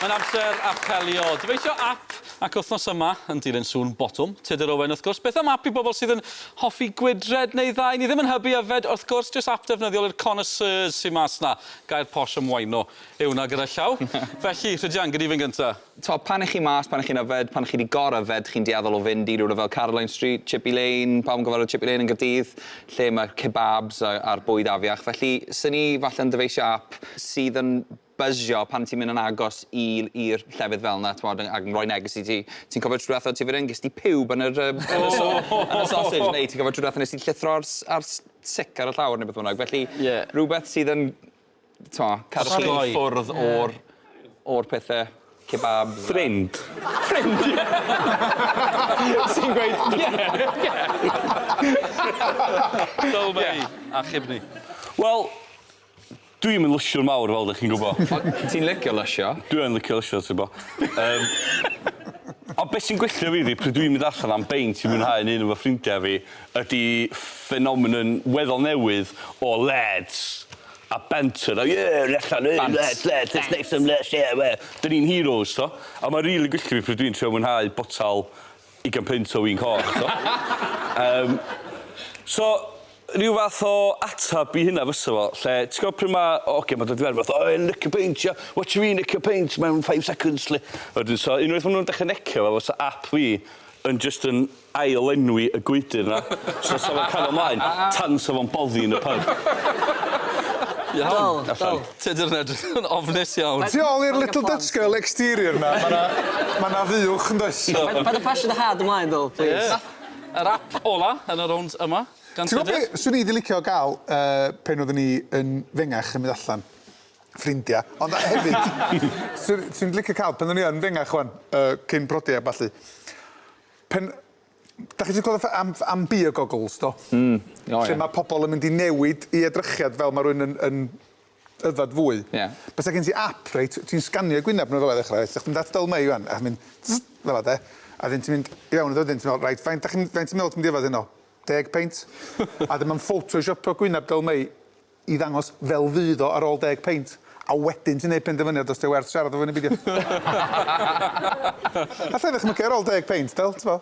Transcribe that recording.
Mae'n amser apelio. Dyfeisio ap ac wythnos yma yn dilyn sŵn botwm Tudur Owen wrth gwrs. Beth am ap i bobl sydd yn hoffi gwydred neu ddau? Ni ddim yn hybu yfed wrth gwrs, jyst ap defnyddiol i'r connoisseurs sy mas 'na. Gair posh am waino yw 'na gyda llaw. Felly, Rhydian, gei di fynd gynta. T'o', pan 'ych chi mas, pan 'ych chi'n yfed, pan 'ych chi 'di gor-yfed, chi'n dueddol o fynd i rywle fel Caroline Street, Chippy Lane, pawb yn gyfarwydd Chippy Lane yn Gaerdydd, lle mae'r kebabs a a'r bwyd afiach, felly 'sen i falle yn dyfeisio ap sydd yn byzio pan ti'n mynd yn agos i i'r llefydd fel 'na, t'mod, ac yn rhoi neges i ti. Ti'n cofio tro dwetha o' ti fan 'yn, ges di pub yn yr yym yn y so- yn y sausage, neu ti'n cofio tro dwetha nes ti llithro ar s- ar s- sic ar y llawr ne' beth bynnag, felly... Ie. ...rwbeth sydd yn t'o' cadw i ffwrdd o'r o'r pethe kebabs a... Ffrind. Ffrind ie! Ti'n gweud ie ie. Dull fel 'ny. Achub ni. Wel dwi'm yn lysiwr mawr fel 'dych chi'n gwbo. O ti'n licio lysio. Dwi yn licio lysio t'bo. Yym ond be' sy'n gwella fi ydi pryd dwi'n mynd allan am beint i mwynhau 'yn 'un efo ffrindia fi ydi ffenomenon weddol newydd o leds a banter a ie ni allan yy leds leds let's make some leds ie we- 'dyn ni'n heroes t'o'? A ma' rili gwylltio fi pryd dwi'n trio mwynhau botel ugain punt o win coch t'o'? Yym so ryw fath o atab i hynna fysa fo lle ti gwbo pry' ma' o ogia ma' dod i fewn fatha o e'n licio peint ia watch me licio peint mewn five seconds 'lly. A wedyn so unwaith ma' nw'n dechre necio fo fysa ap fi yn jyst yn ail-lenwi y gwydyr 'na, so 'sa fo'n cario mlaen tan 'sa fo'n boddi yn y pub. Iawn. Dal, dal. Tudur yn edrych yn ofnus iawn. Tu ôl i'r little Dutch girl exterior 'na, ma' 'na ma' 'na fuwch yndoes? Paid â pasio dy had ymlaen Dal, plîs. Ie. Yr ap ola yn y rownd yma gan Tudur. Ti'n gwbo be' swn i 'di licio ga'l yy pen oeddwn i yn fengach yn mynd allan, ffrindia, ond hefyd swn swn i'n licio ca'l pan o'n i yn fengach ŵan yy cyn prodi a ballu Pen- Dach chi 'di clywed fatha am am beer goggles do? Hmm, o ia. Lle ma' pobol yn mynd i newid 'u edrychiad fel ma' rywun yn yn yfed fwy. Ie. Bysa gen ti ap reit w- ti'n sganio'u gwyneb n'w fela i ddechra reit 'dach chdi'n mynd at Dyl Mei ŵan a chi'n mynd fela de a 'dyn ti'n mynd i fewn iddo wedyn ti'n me'wl reit faint 'dach chi'n faint ti'n meddwl ti'n mynd i yfed heno? Deg peint? A 'dyn ma'n ffotoshiopio gwyneb Dyl Mei i ddangos fel fydd o ar ôl deg peint, a wedyn ti'n neud penderfyniad os 'di o werth siarad efo fi neu beidio. Alla i ddychmygu ar ôl deg peint, fel, t'bo'.